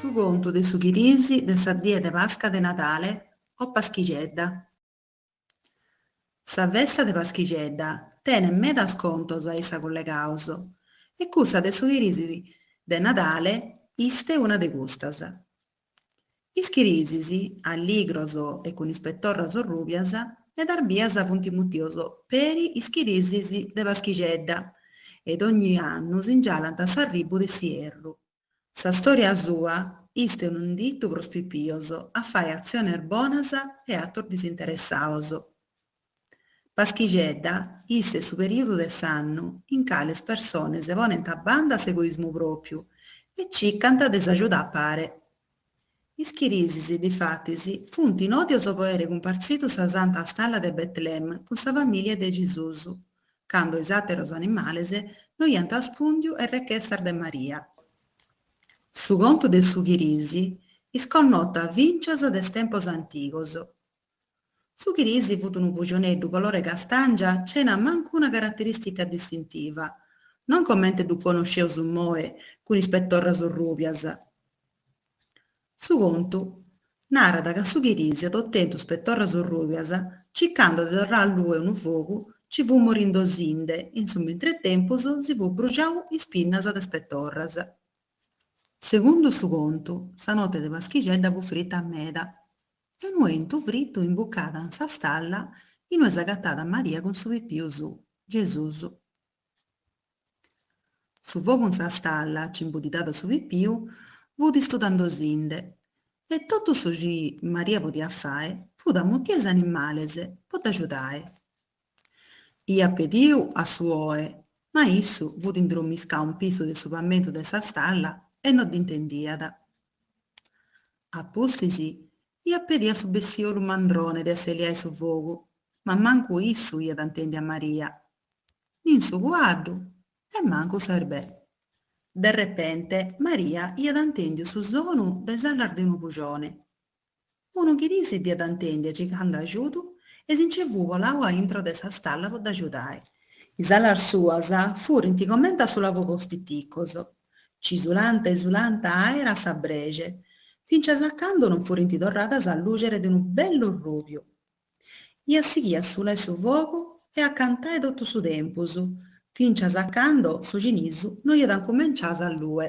Su contu de su chirisi de sa die de Pasca de Nadale o Paschixedda Sa festa de Paschixedda tenet medas contos a issa collegados e cussa de su chirisi de Nadale ist una de custas. Is chirisis, alligros e cun is petorras rùbias, medas bias funt mutios peri is chirisis de Paschixedda e dogni annu singialant s'arribu de s'ierru. Sa stòria sua ist unu inditu pro is pipios a fai atziones bonas e atos disinteressados. Paschixedda ist su perìodu de s'annu in cale is persones ponent a banda s'egoismu pròpriu e cicant de s'agiuda a pare. Is chirisis, difatis, funt nòdios po aer cumpartzidu sa santa stalla de Betlem cun sa famìlia de Gesùs, cando is àteros animales no iant arrespùndiu a is rechestas de Maria. Su contu de su chirisi ist connota fincias de is tempos antigos. Su Chirisi fut unu pujuneddu colore castàngia cena mancu una caraterìstica distintiva, non comente ddu conosceus immoe cun is petorras rùbias. Su contu narat ca su Chirisi at otentu is petorras rùbias circando de torrai a allue unu fogu ci fut morindosinde in su mintretempus si fut bruxau is pinnas de is petorras. Segundu su contu, sa note de Paschixedda fut frita meda. E unu 'entu fritu imbucada in sa stalla inue s'agatada Maria cun su pipiu su, Gesùs. Su fogu in sa stalla ci imbuddidada su pipiu fut istudandosinde e totu su ci Maria podiat fai fut a mutie is animales po dd'agiudai. Iat pediu a su oe, ma issu fut indromiscau in pissu de su pamentu de sa stalla e no dd'intendiat. A pustis iat pediu a su bestiolu mandrone de asseliai su fogu, ma mancu issu iat intendiu a Maria, nin su cuaddu e mancu s'erbè. De repente Maria iat intendiu su sonu de is alas de unu pujone. Unu chirisi dd'iat intendia cicando agiudu e si nce fut bolau a intro de sa stalla po dd'agiudai. Is alas suas furint comente a sulafogos piticos, ci sulanta e sulanta aera a sa brexe, fincias a cando non furint torradas a lùxere de unu bellu rùbiu. Iat sighiu a sulai su fogu e a cantai totu su tempus, fincias a cando su cinisu no iat incumenciau a s'allue.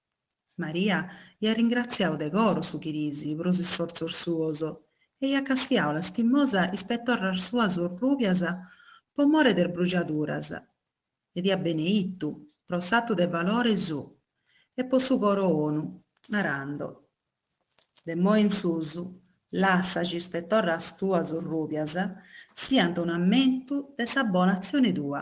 Maria iat ringratziau de coro su chirisi pro is isfortzos suos e iat castiau lastimosa is petorras suas orrùbias pro more de is brujaduras e dd'iat beneitu pro s'atu de valore suo e pro su coro bonu, narando, De imoi in sus, lassa chi is petorras tuas orrùbias siant un'ammentu de sa bona atzione tua.